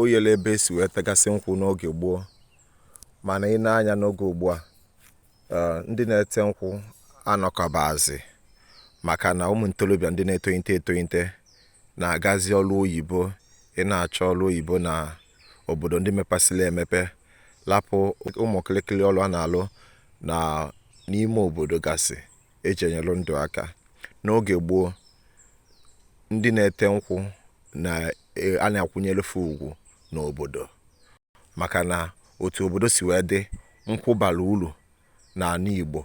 oyele ebe esi wee tegasị nkwụ n'oge gboo mana i nee anya n'oge ugbu a eh, ndị na-ete nkwụ anọkabazi maka na ụmụ ntorobịa ndị na-etonyite etonyite na-agazi ọrụ oyibo ị na-achọ ọrụ oyibo na obodo ndị mepesịrị emepe lapụ ụmụ kịrịkịrị ọrụ a na-alụ na n'ime obodo gasị eji enyelụ ndụ aka n'oge gboo ndị na-ete nkwụ na e, a na-akwụnyere fa ugwu n'obodo maka na otu obodo si wee dị nkwụ bara uru n'anị Igbo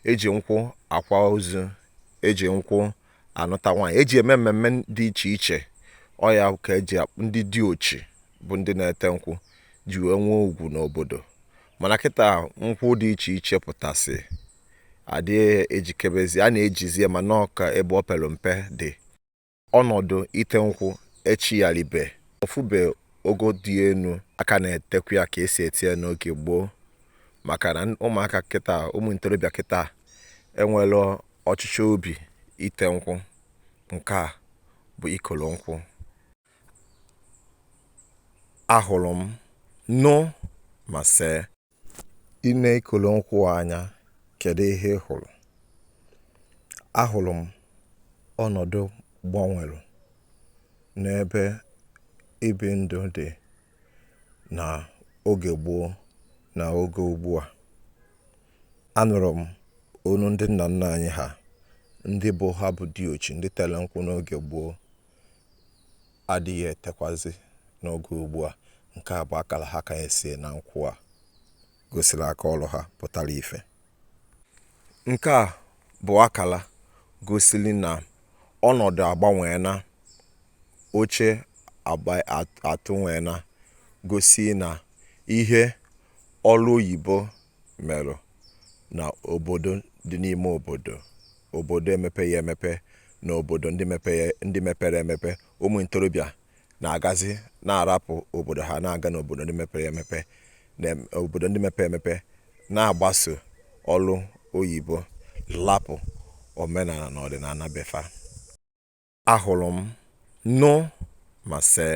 eji nkwụ akwa ozu eji nkwụ anụta nwaanyị eji eme mmemme dị iche iche ọ ya ka eji ndị diochi bụ ndị na-ete nkwụ ji wee nwee ugwu n'obodo mana kịta nkwụ dị iche iche pụtasị adị ejikebezi a na-ejizie mana ọ ka ebe o pere mpe dị ọnọdụ ite nkwụ echigharịbe ọ fụbe ogo dị enu a ka na-etekwa ya ka esi ete ya n'oge gboo maka na ụmụaka kịta ụmụ ntorobịa kịta enwerọ ọchịchọ obi ite nkwụ nke a bụ ikolo nkwụ ahụrụ m nụ ma see i nee ikolo nkwụ anya kedu ihe ị hụrụ ahụrụ m ọnọdụ gbanwere n'ebe ibi ndụ dị na oge gboo na oge ugbu a anụrụ m onu ndị nna nna anyị ha ndị bụ ha bụ diochi ndị tere nkwụ n'oge gboo adịghị etekwazị n'oge ugbu a nke a bụ akara ha kanyesị na nkwụ a gosiri aka ọrụ ha pụtara ife nke a bụ akara gosiri na ọnọdụ agbanweena oche atụnweena gosi na ihe ọrụ oyibo merụ na obodo dị n'ime obodo, obodo emepeghị emepe na obodo ndị mepere emepe, ụmụ ntorobịa na-agazi na-arapụ obodo ha na-aga n'obodo ndị mepere emepe na obodo ndị mepere emepe na-agbaso ọrụ oyibo lapụ omenala na ọdịnala befa. Ahụrụ m, nụ ma see.